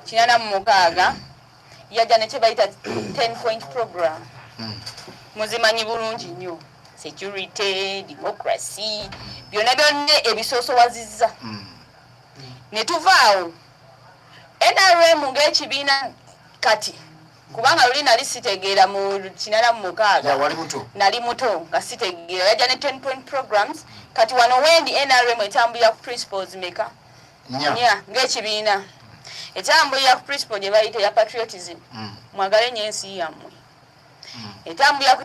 kinana mu mukaaga yajja ne kyebayita ten point program hmm. muzimanyi bulungi nnyo security democracy byonna byonna ebisoosowaziza hmm. ne tuvaawo nrm ng'ekibiina kati kubanga luli nali sitegeera mu kinana mu mukaaga nali muto nga sitegeera yajja ne ten point programs kati wano wendi nrm etambulira ku principles meka nya ng'ekibiina etambulira ku principle gye bayita ya patriotism mm. mwagale nyo ensi yammwe mm. etambulira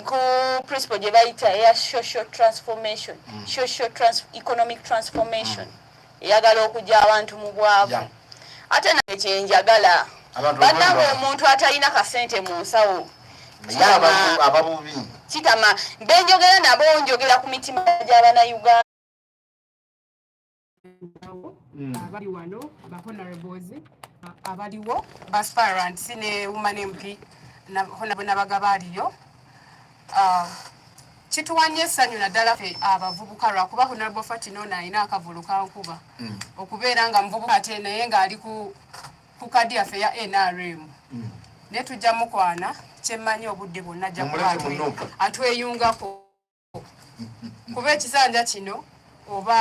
ku principle gye bayita eya social transformation mm. social economic transformation eyagala okugya abantu mu bwavu ate naye kyenjagala banange omuntu atalina kasente mu nsawo kitama benjogera nabo njogera ku mitima gy'abanauganda awo mm. abali wano ba honorables abaliwo ba sparants ne woman mp nabagaba aliyo ah, kituwanye essanyu naddala fe abavubuka lwakuba honorable fatino ono alina akavulu kankuba mm. okubeera nga muvubuka ate naye ng'ali ku kadi yaffe ya nrm mm. naye tujja mukwana kyemmanyi obudde bwonna ajja kuba atweyungako kuba ekisanja kino oba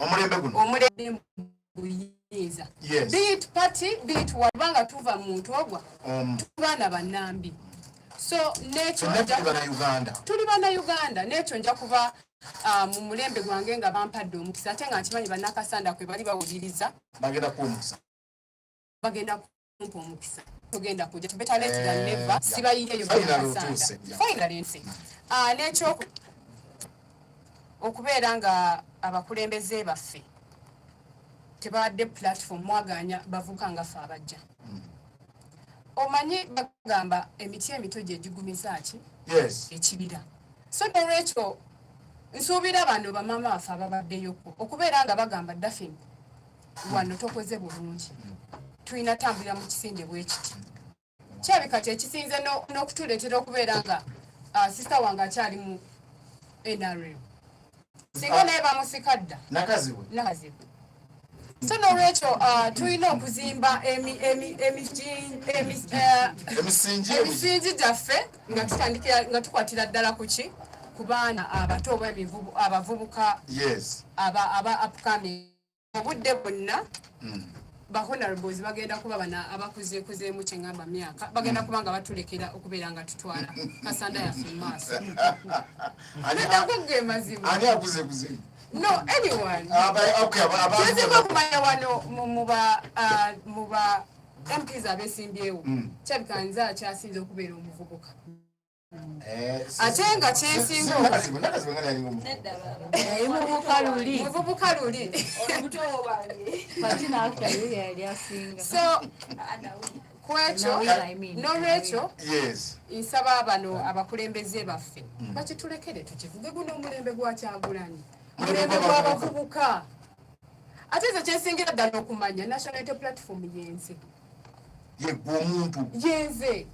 omulembe guno omulembe buyinza bit party bit wabanga tuva muntu ogwa um. tubaana banambi so nekyo tuli bana uganda nekyo nja kuba Ah, mu mulembe gwange nga bampadde omukisa ate nga nkimanyi bannakasanda kwe bali bawuliriza bagenda kuwumusa bagenda kumpa omukisa tugenda kuja to better late than eh, never sibayinja yo finally nsi ah nekyo okubeera nga abakulembeze baffe tebadde platform mwaganya bavuka nga fe abajja hmm. omanyi bagamba emiti emito gyegigumiza ki ekibira so nolwekyo nsuubira bano bamama baffe ababaddeyoko okubeera nga bagamba dafin wano tokoze bulungi tulina tambulira mu kisinde bwekiti kyabe kati ekisinze n'okutuleetera okubeera nga ah, sisita wange akyali mu nrm singa naye bamusika dda nakazibu so nolwekyo ah, tulina okuzimba emisingi eh, gyaffe nga tutandikira nga tukwatira ddala ku ki ku baana abato oba abavubuka aba upcoming obudde bonna hmm. ba honorables bagenda kuba bana abakuzeekuzeemu kye ngamba myaka bagenda kuba nga batulekera okubeera nga tutwala kasanda yaffe mu maaso nago ge mazima no anyone ah, kyezibwa okumanya wano mu ba ah, mps abesimbyewo hmm. kyabika nze akyasinze okubeera omuvubuka Eh, ate nga kyesinga muvubuka luli so kwekyo nolwekyo nsaba bano abakulembeze baffe mm. bakitulekere tukivuge guno omulembe gwakyagulanyi mulembe gwabavubuka ate nze kyesingira ddala okumanya nationality platform yenze yegwe omuntu yenze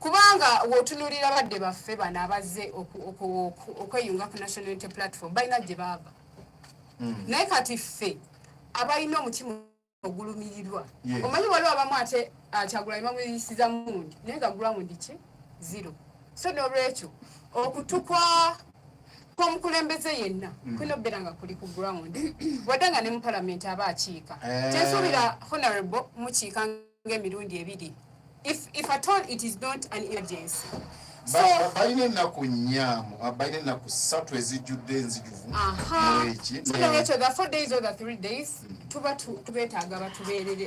kubanga wotunulira badde baffe bano abazze okweyunga ku national unity platform balina gye baava hmm. naye kati ffe abalina omutima ogulumirirwa omanyi waliwo abamu ate ah, kyagulanyi bamuyisiza mundi naye nga gulamundi ki zero so nolwekyo okutukwa kwomukulembeze yenna hmm. kulina okubeera nga kuli ku ground wadde nga ne mu palamenti aba akiika eh. kyensuubira honorable mukiika nga emirundi ebiri if, if at all it is not an emergency balina ennaku nnya ah, balina ennaku ssatu ezijjudde enzijuvu ekyo the four days or the three days hmm. tuba tubetaaga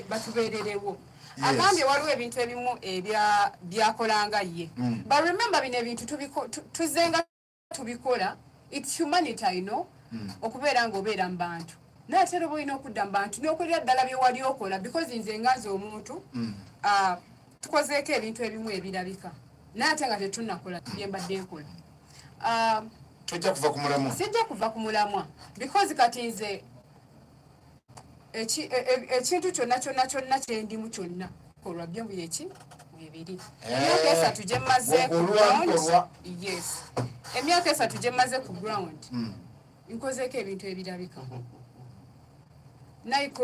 batubeererewo agambye waliwo ebintu ebimu ebyakolanga ye hmm. but remember bino ebintu tuzenga tubikola it's humanity i know mm. okubeera nga obeera mu bantu naye ate era oba olina okudda mu bantu n'okolera ddala bye wali okola because nze nga nze omuntu mm. uh, tukozeeko ebintu ebimu ebirabika naye ate nga tetunakola bye mbadde nkola uh, tojja kuva ku mulamwa sijja kuva ku mulamwa because kati nze e, e, ekintu kyonna kyonna kyonna kyendimu kyonna kolwa byo byeki bibiri eh. emyaka esatu gyemmaze ku ground yes emyaka esatu gyemmaze ku ground hmm. nkozeeko ebintu ebirabika naiko